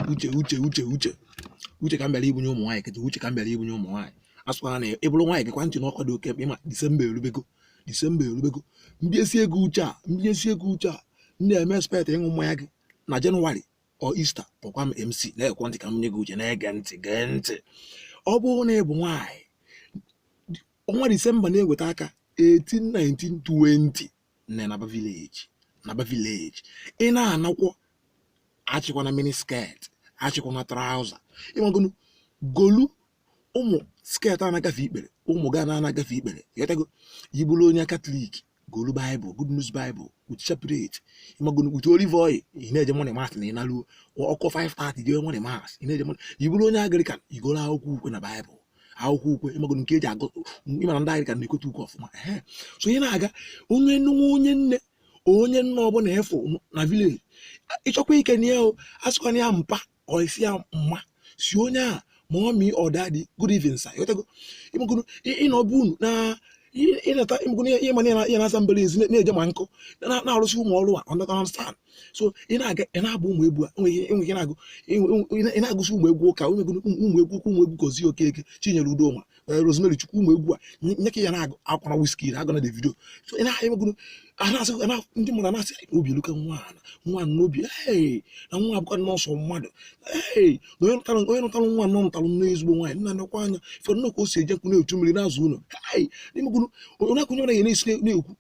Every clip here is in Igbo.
uche uche uche uche uche ka m bịara ibunye ụmụ nwaanyị kịta uche ka m bịara ibunye ụmụ nwaanyị a sịkwara na ị bụrụ nwaanyị gekwa ntị n'ọkwa dị oke mkpa ị ma disemba erubego disemba erubego m bunyesie gị uche a m bunyesie gị uche a m na-eme expect ịṅụ mmanya gị na jenụwarị or ista kpọkwa m mc na-egekwa ntị ka m nye gị uche na-ege ntị gee ntị ọ bụrụ na ị bụ nwaanyị ọnwa disemba na-eweta aka 18 19 20 nne naba village naba village ị na-anakwa achịkwana mini skirt achịkwana trouser ị magonu golu ụmụ skirt a na-agafe ikpere ụmụ gown na-agafe ikpere ghọtago ị bụlụ onye katọlik golu baịbụl good news baịbụl with chaplet ị magonu with olive oil ị na-eje morning mass na ị naruo ọ kụọ 5:30 jee morning mass ị na-eje morning ị bụlụ onye anglican i golu akwụkwọ ukwe na baịbụl akwụkwọ ukwe ị mago nke e ji agụ ị ma na ndị anglican na-ekwete ukwe ọfụma so ị na-aga onye nwa onye nne onye nna ọbụla ị fụ na village ị chọkwa ikene ya o asịkwana ya mpa or ị sị ya mma sị onye a mummy or daddy good evening sir ị ghọtago ị mago ị nọ be unu na ị nata ị magonu ihe mana ya na-aza mbara ezi na-eje ma nkụ na-arụsị ụmụ ọrụ a understand so ị na-aga ị na-agba ụmụ egwu enweghị na-agụ ị na-agụsị ụmụ egwu ụka ụmụ egwu ụmụ egwu gozie okeke chinyere udoma eh, rosemary chukwu ụmụ egwu a nye ka ị ya na-agụ agụkwana wizkid agụna davido so ị na-emegonu ndị mmadụ na-asị obi eluka nwa nwa n'obi na nwa a bụkwa nọọsụ mmadụ na onye nụtara nwa a na ọ nụtara nnọọ ezigbo nwaanyị nna nekwa anya ife nnọọ ka o si eje nkụ na-echu mmiri na-aza ụlọ na-ekwunye na ya na-esi na-ekwu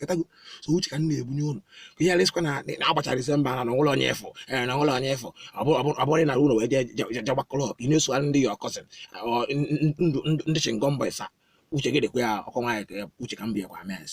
ghọtago so uche ka m na-ebunye unu ka ị ghara ịsịkwa na agbachara disemba na na o nwerọ onye ị fụ eh, na o nwerọ onye ị fụ ọ bụrụ na i luo wee je gbakọrọ ọkụ ị na-eso ndị your cousin ndị chewing gum boys a uche gị dịkwa ya ọkọ nwaanyị uche ka m bịakwa mes